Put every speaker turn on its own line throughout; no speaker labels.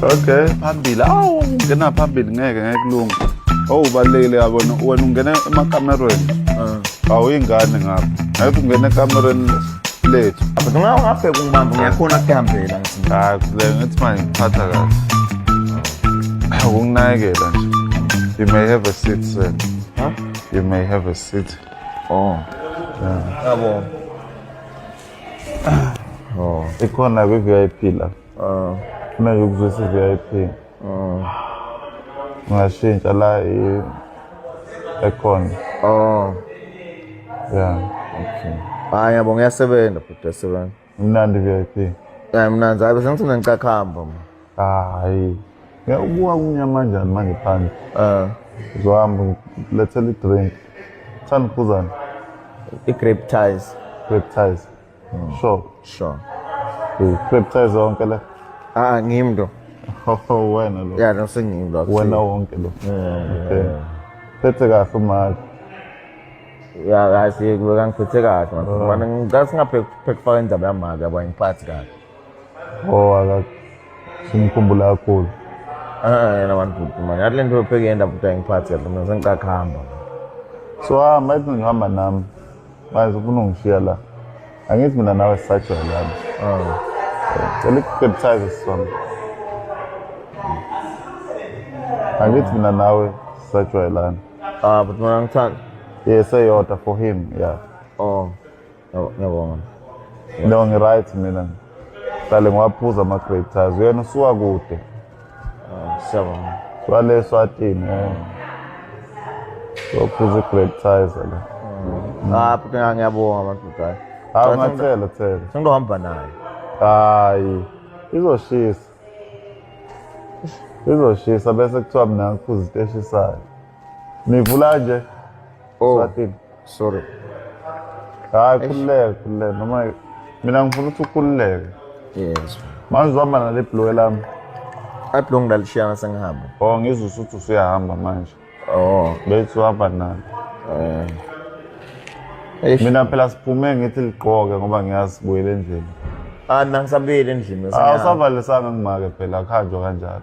okay phambili awu ungena phambili ngeke ngeke kulunga owu ubalulekile yabona wena ungena emakamerweni ah. awuyingane ngapha ngeke ungena ekamerweni lethu but nxa ungabheka
umbambo ngiyakhona kuhambela hayi le ngithi
manje ngiphatha kahle ukunginakekela nje you may have a seat sir huh? you
may have a
seat oh
yeah.
yabo Oh. Ikhona kwi VIP la. Oh. Funa ukuzwisa VIP. Oh. Ngashintsha la i ekhona.
Oh.
Yeah.
Okay. Hayi yabo ngiyasebenza futhi yasebenza. Imnandi VIP.
Yeah, mnandi. Hayi
sengithi mina ngicakhamba mna. hayi
Ya, ubuka kunyama njani manje phandle um uzohamba ngilethela i-drink thanda uphuzani i-grape
ties reptiles
sure sure reptiles zonke le ah ngimi ndo
Oh, wena
lo ya nosengimi lo wena
wonke lo
Okay. phethe kahle umali
ya kahle kubeka ngiphethe kahle manje ngicela singaphekufaka indaba yamali yabo angiphathi kahle Oh,
akak. Simkhumbula kakhulu. Ah, yena
wantuthu manje. Yathi lento yopheke yenda futhi ayingiphathi yathi mina sengicaka kuhamba. So
hamba ethi ngihamba nami. Manje ufuna ungishiya la. Angithi mina nawe sisajwayele lami. Ah. Cela ikukebuthaze sisona. Angithi mina nawe sisajwayelana. Ah, but mina
ngithanda. Yes, eyodwa
for him, yeah. Oh.
Ngiyabonga.
No ngiright mina. Qale ngwaphuza ama grape tires. Uyena usuka kude. Ah,
siyabonga. Swale
swatini. Sophuza eh. grape tires la. Ah, futhi ngiyabonga
abantu dai. Hawu ah, ngathela
thela. Sengizohamba
naye. Hayi.
Izoshisa. Izoshisa bese kuthiwa mina ngiphuza iteshi sayo. Nivula nje. Oh, Swati.
sorry.
Hayi khululeka khululeka noma mina ngifuna ukuthi ukhululeke. Yes.
Manje uhamba
nale blue lami. I belong
lalishiyana sengihamba. Oh ngizwe usuthi
usuyahamba manje. Oh. Bethi
uhamba
nalo. Eh. Eish. Mina phela siphume ngithi ligqoke ngoba ngiyazi sibuyele endlini. Ah nangisabuyile
endlini. Ah usavalisanga
ngimake phela akhanjwa kanjalo.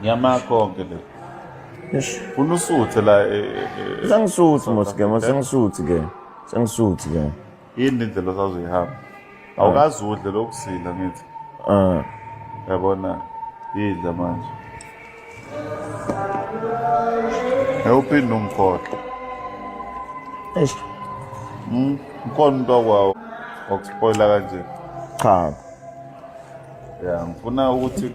Ngiyama konke le. Yes. Funa usuthe la e, e, e, Sengisuthi
mos ke, mos sengisuthi ke. Sengisuthi ke. Yini indlela
osazoyihamba? Awukazi udle lokusila ngithi. Ah. Yabona idla manje. Ngewuphinde umkhohle. Eish. Mm, ukhona umuntu wakwawo okuspoila kanje. Cha.
Yeah,
ngifuna ukuthi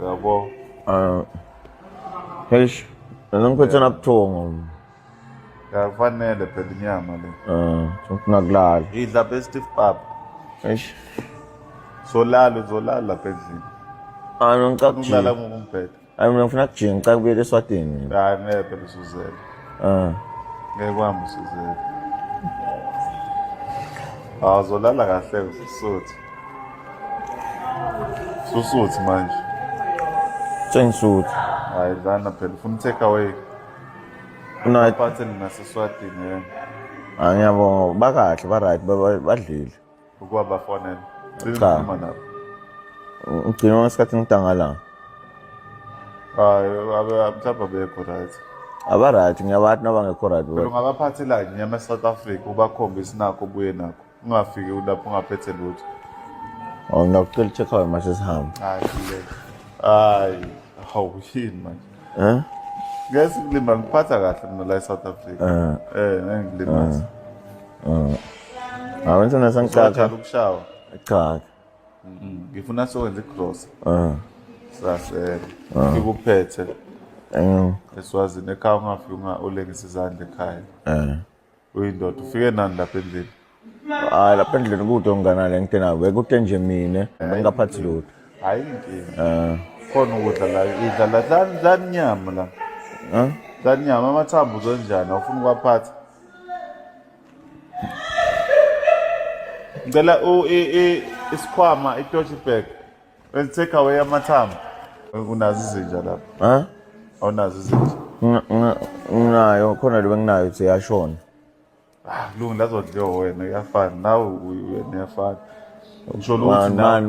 Uyabo? Ah.
Hesh, mina ngiphethe nabuthongo.
Kakufanele phela inyama le. Ah, ungakulala.
Idla best if
papa. Hesh. Zolala uzolala lapha endlini. Ah, mina ngicabanga Ukulala ukujika.
ngokumbheda.
Hayi mina ngifuna kujika,
ngicabanga ukuyela eSwatini. mina. Hayi ngeke phela
usuzele. Ah. Ngeke kwami usuzele. Awuzolala kahle usuthu. Susuthi manje.
Sengisuthi. Hayi
lana phela ufuna take away. Una iphathe nina siswadini yena. Ah ngiyabonga
bakahle ba right badlile. Ukuba
bafonela. Cha.
Ugcina ngesikhathi ngidangala.
Hayi abe mhlawumbe bekho right. abaright
ngiyabathi nabangekho right ungabaphathela nyama
e-south africa ubakhombise nakho ubuye nakho ungafiki lapho ungaphethe lutho oh
ngiyacela check out manje sihamba hayi le
hayi hawu yini manje eh ngeke sikulima ngiphatha kahle mina la eSouth Africa eh eh ngeke ngilimaze eh
awenza nasangicaca ukushawa
cha
mm-hmm.
ngifuna sowenza igross eh sasele ah. ngikuphethe eh eswazini ekhaya ungafika ulengisa izandla ekhaya eh uyindoda ufike nani lapha endlini hayi lapha
endlini kude ongana le ngite nayo bekude nje mina bengingaphathi lutho hayi inkinga
um khona ukudla la idla la dlani dlani inyama la um dlani inyama amathambo uzonjani awufuna ukwaphatha ngicela isikhwama itoshi bag Let's take away amathambo. Unazo izinja lapha. Ha? Awunazo izinja. Nginayo
khona lo benginayo ukuthi yashona. Ah,
lungu lazodliwa wena uyafana. Nawe wena uyafana. Ngisho ukuthi na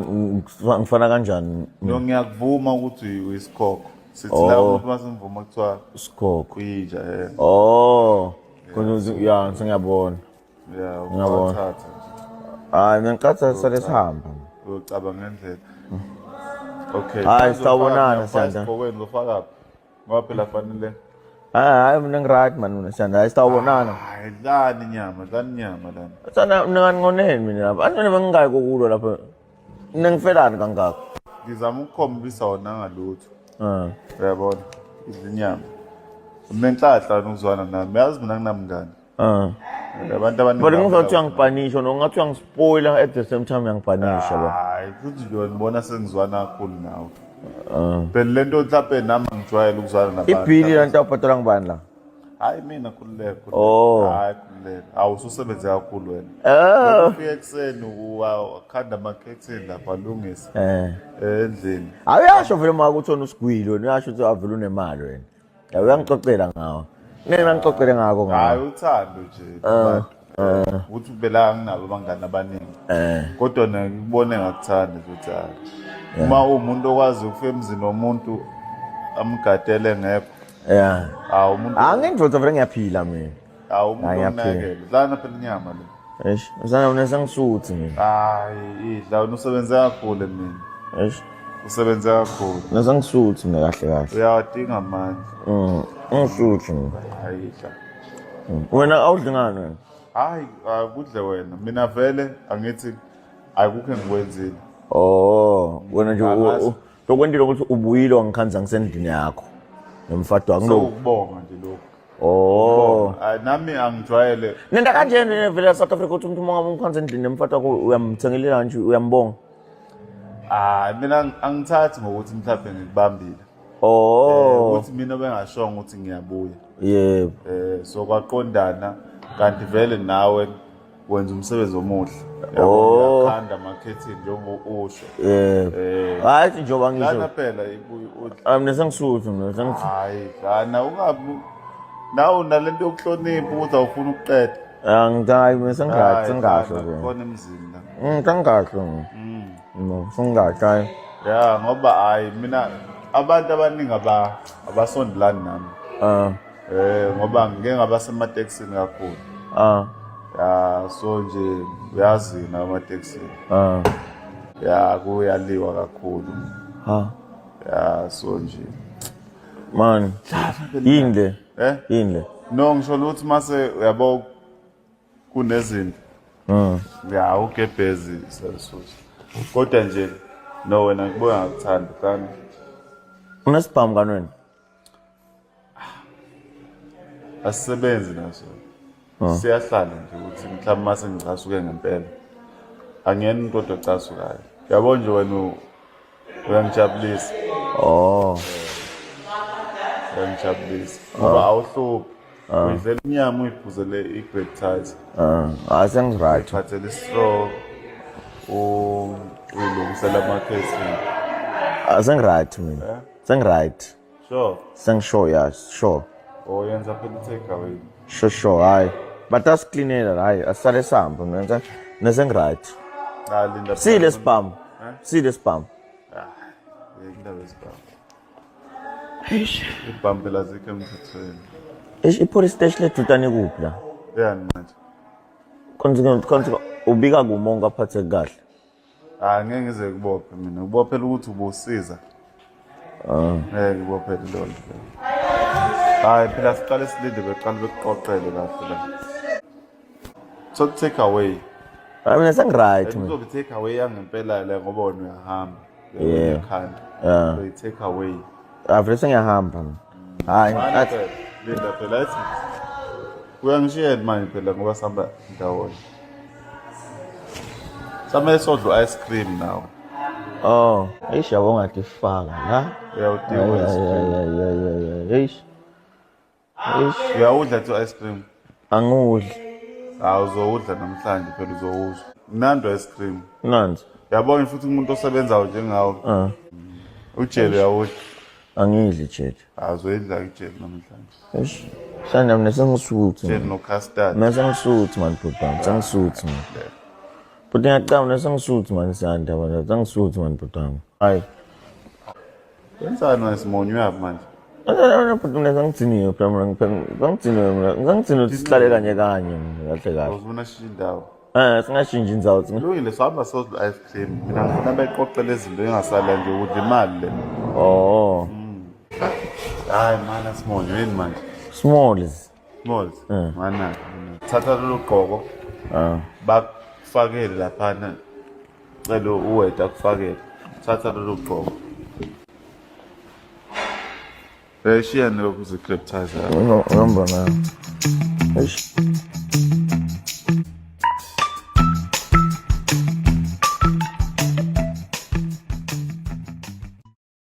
ngifana kanjani?
No ngiyakuvuma
ukuthi uyisikhokho. Sithi la oh. umuntu masimvuma kuthiwa isikhokho. Uyinja
yena.
Oh. Khona
ya sengiyabona. ya Ngiyabona.
uwathatha
hayi mina ngicatha sale Uzochaza. sihamba uyocaba ngendlela
okay Hhayi, sitawubonana,
Sanda. kokweni uzofakaphi
ngoba phela fanele hayi hayi
mina ngiright mani mina sanda hayi sitawubonana hayi dlani
nyama dlani nyama lana sana mina
kaningoneni mina lapha anjena bengingayi kokulwa lapha mina ngifelani kangaka ngizama
ukukhombisa wona ngalutho Ah. uyabona idla inyama unenhlahla nokuzwana nami yazi mina nginamngani Ah. Abantu abaningi. But ngingathi uyangipanisha
no ngathi uyangispoiler at the same time uyangipanisha ba. Hayi, futhi nje ngibona
sengizwana kakhulu nawe. Ah. Phela lento mhlawumbe nami ngijwayele ukuzwana nabantu. Ibhili lanto awubhadala
ngibani la? Hayi mina
khululeka. Oh. Hayi khululeka. Awu ususebenze kakhulu wena. Oh. Ufike ekseni ukhanda amakhethini lapha lungisa. Eh. Endlini. Awuyasho vele
uma ukuthi usigwilo, uyasho ukuthi avele unemali wena. Ya uyangixoxela ngawo. Ngeke ngangixoxele ngako ngawo. Hayi uthando nje.
Ah, ah. Ukuthi ubela nginabo abangani abaningi. Eh. Kodwa nakubone ngakuthanda ukuthi hayi. Uma umuntu okwazi ukufika emzini womuntu amgadele ngekho. Yeah. Hawu umuntu. Angingidvotsa vele
ngiyaphila mina. Hawu umuntu
Hayi, yaphela. onakele. Dlana phela inyama le. Eish, uzana mina
sangisuthi mina. Hayi, idla
wena usebenze kakhulu mina. Eish,
Usebenze
kakhulu. mina sangisuthi mina
kahle kahle. Uyawadinga amandla.
Mm, ngisuthi
mina. Hayi idla.
Wena
awudli ngani wena? Hayi,
akudle wena. Mina vele angithi akukho engikwenzile. Oh,
wena nje u- Angazi. u- lokwentile ukuthi ubuyile wangikhanza ngisendlini yakho nomfadi wami lo ukubonga nje lokho
Oh. Hayi nami angijwayele. Nenda kanjena
nevela South Africa ukuthi umuntu uma umkhanza endlini nemfata ko uyamthengelela kanje uyambonga. Ah
mina angithathi ngokuthi mhlawumbe ngikubambile. Oh. Eh, ukuthi mina bengashongo ukuthi ngiyabuya. Yebo.
Eh so
kwaqondana kanti vele nawe wenza umsebenzi omuhle Oh. uyakhanda amakhethini njengoba usho Eh. Eh. Hayi
njengoba lana ngisho. phela iku-
ut- Ah mina sengisuthu
mina sengisuthu. hayi lana
ungabi nawe nalento yokuhlonipha ukuthi awufuni ukuqeda Ah ngidai mina
sengathi Hayi, sengasho lana nje. khona emzini
la Mm kangasho.
Mm. No sengathi. hayi. ya
ngoba hayi mina abantu abaningi aba- abasondelani nami Ah. Eh ngoba ngike ngaba semateksini kakhulu. Ah. Ya so nje uyazi na amateksini. Ah. Ya kuyaliwa kakhulu. Ha. Ya so nje. Man.
Yini le? Eh? Yini le? No ngisho ukuthi
mase uyabo kunezinto. Mm. Ya ugebhezi sasuthi. Kodwa nje no wena ngibona ngakuthanda kani.
Unesibhamu kanweni?
asisebenzi naso ah. siyahlala nje ukuthi mhlawumbe uma sengicasuke ngempela angiyena umuntu kodwa ocasukayo yabo nje wena uyangijabulisa oh uyangijabulisa ngoba ah. awuhluphi ah. uyidlela inyama uyiphuzele i-great ties hayi sengiright
phathele
istraw uyilungisela amakhesi asengiright
mina eh? Sengiright. Sure.
Sengisure ya,
sure. Oh, yenza phela
i-take away. Sure sure hayi.
But asiklinela hayi asale sambo nenza nesengiright. Ah, linda.
See this
bum. Huh? See this bum. Ah, linda
this bum. Eish. Ibham phela zikho emthethweni. Eish ipolice
station lethu tani kuphi la? Yeah, manje.
Konke
konke ubika kumonga aphathe kahle. hayi ngeke
ngize kubophe mina ubophela ukuthi ubusiza ah. ngeke ngibophele leyo nto hayi phela siqale silinde beqale bekuqoqele kahle la so take away hayi mina
sengiright mina uzobe take away yangempela
le ngoba wena uyahamba uyakhanda so take
away
Avele sengiyahamba.
Hayi. Manje athi- phela, Linda phela ethi
uyangishiyela manje phela ngoba sihamba ndawonye. Samele sodla u-ice cream nawe. Oh,
eish yabo ngatifaka la. Uyawudinga Ay, u-ice ay,
cream. ay, ay, ay, ay, ay, eish.
Eish, uyawudla
tu ice cream angiwudli
hawu
uzowudla namhlanje phela uzowuzwa mnandi ice cream mnandi yabona
futhi umuntu
osebenzayo njengawe Ah, ujele uyawudla angidli
jeli hawu uzoyidla ujele
namhlanje eish
hlanda mina sengisuthi ujele nocustard
mina sengisuthi mani
bhuti wami sengisuthi mani bhuti ngiyacaba mina sengisuthi mani sanda wena sengisuthi mani bhuti wami hayi
Wenzani wena Simon uyaphi manje? Bhuti mina
ngangidiniwe phela mina ngangidiniwe mina ngangidiniwe ukuthi sihlale kanye kanye mina kahle kahle. Uzibona shintsha indawo.
Eh singashintsha indawo.
Lungile sihamba sozwa
ice cream. Mina ngifuna beqoqele izinto engasala nje ukuthi imali le. Oh.
Hayi
mana Simon yini manje? Smalls.
Mol. Eh.
Mana. Thatha lolu gqoko. Ah. Bakufakele laphana. Cela uweda akufakele. Thatha lolu gqoko. Eh shiya nilokhu
zicliptizer.
Ngihamba nayo. Eish.